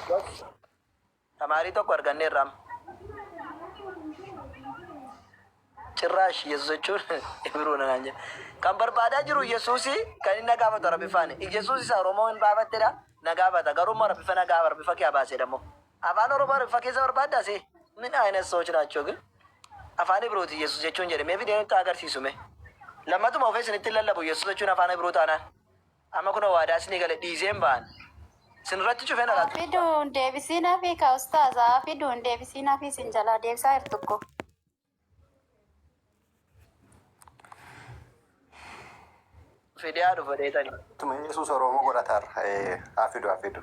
Gosh. Tamaarii tokko arganneerra amma. Cirraash Yesuus jechuun Ibiroodha naan jedhe. Kan barbaadaa jiru Yesuusi kan inni na gaafatu Arabifaani. Yesuus isa Oromoo hin baafattedha na gaafata. Garuu immoo Arabifa na gaafa Arabifa kee abaaseedha immoo. Afaan Oromoo Arabifa keessa barbaaddaa si? Min ayina soochi naachoo gil. Afaan Ibirooti Yesuus jechuun jedhe mee fidee nutti agarsiisu mee. Lammatuma ofee isinitti hin lallabu Yesuus jechuun afaan Ibiroo taanaan. Amma kunoo waadaa isinii gale dhiiseen ba'an. Isin irratti cufeen alaa Haa tuquu ba'a. fiduun deebisiin hafii ka ustaaz haa fiduun deebisiin hafii sin jalaa deebisaa hirtukko. Fidee haa dhufa dheetanii. Tuma Yesuus Oromoo godhatar. Haa fidu haa fidu.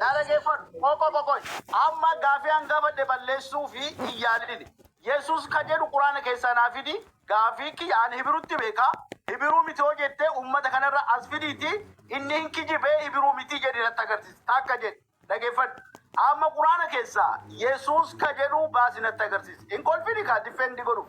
Naa dhageeffadhu, qoqo qoqoy. Amma gaafii an gaafadhe balleessuufi hin yaalini. Yesuus ka jedhu Qur'aana keessaa naa fidi, gaafii kiyya an Hibirutti beeka, Hibiruu miti hoo jettee ummata kanarra as fidiitii inni hin kijibe Hibiruu miti jedhi natti agarsiisi. Takka jedhi. Dhageeffadhu. Amma Qur'aana keessaa Yesuus ka jedhu baasi natti agarsiisi. Hin kolfini kaa difeendi godhuuf.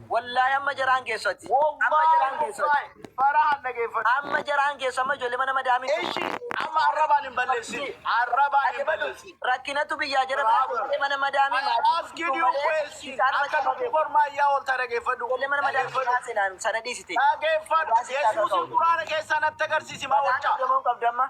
Wollahi amma jaraan keessati amma jaraan keessati farahan dhageeffadhu amma jaraan keessa amma ijoollee mana madaamii ishi amma arrabaan hin balleessin arrabaan hin balleessin rakkinatu biyyaa jara ijoollee mana madaamii maatii askin yoo weessin akka dubbi kormaa iyyaa oolta dhageeffadhu ijoollee mana madaamii maasinaan sana dhiisite dhageeffadhu yesuusin quraana keessaan atta agarsiisi maa wachaa qabdu amma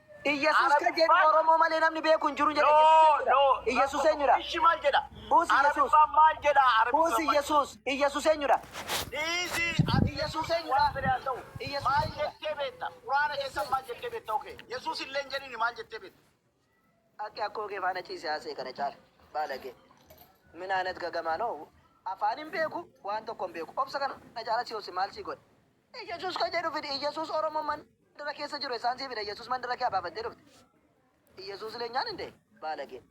Iyyasuus kan jedhu Oromoo malee namni beeku hin jiru jedha Iyyasuus eenyu dha? Iyyasuus eenyu dha? Ishi maal jedha? Who's Iyyasuus? Arabiffaan maal jedha? Who's Arabiffaan maal Iyyasuus? Iyyasuus eenyu dha? Dhiisi ati Yesuus Yesuus eenyu waan dha? fedhe haa ta'u. Iyyasuus Maal eenyu dha? jettee beekta? Quraana Yesuus keessan eenyu maal dha? jettee beekta? Okay. Yesuus illee hin jedhini maal jettee beekta? Akka akkoo kee faana ciise haasee kana caala. Baalagee. Min aanat gagamaa noo. Afaan hin beeku, waan tokko hin beeku. Obsa kana caala si obse maal si godhe? Iyesus ka jedhu fidi. Iyesus Oromo mandara keessa jiru esaan sii fida Iyesus mandara kee abaafattee dhufte. Iyesus leenyaan hin dee baalagee.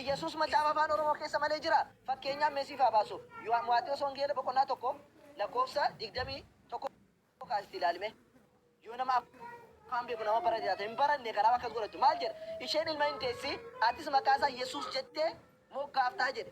Iyesus macaafa afaan Oromoo keessa malee jira? Fakkeenyaan mee siif haa baasu. Yoha Maatewos Wangeela boqonnaa 1 lakkoofsa 21 kaasiti ilaali mee. Yoo nama afaan beeku nama barate taate hin baranne kanaaf akkas godhattu. Maal jedha? Isheen ilma hin deessi atis maqaa isaa Yesus jettee moggaaftaa jedhe.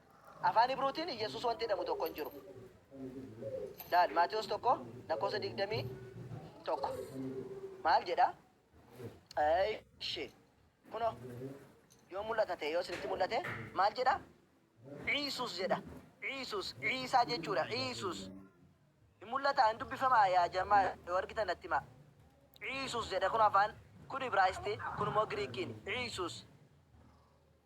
Afaan Hibruutiin Iyyesuus wanti jedhamu tokko hin jiru. Laal Maatewos 1 lakkoofsa 21. Maal jedha? Eeshi. Kunoo yoo mul'ata ta'e yoo isinitti mul'ate maal jedha? Iisuus jedha. Iisuus. Iisaa jechuudha. Iisuus. Hin mul'ata hin dubbifamaa yaa jamaa yoo argitan natti himaa. Iisuus jedha kun afaan kun Ibraayistii kun immoo Giriikiin. Iisuus.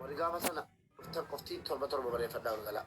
Warri gaafa sana dhuftan qofti torba torba barreeffadhaa galgalaa.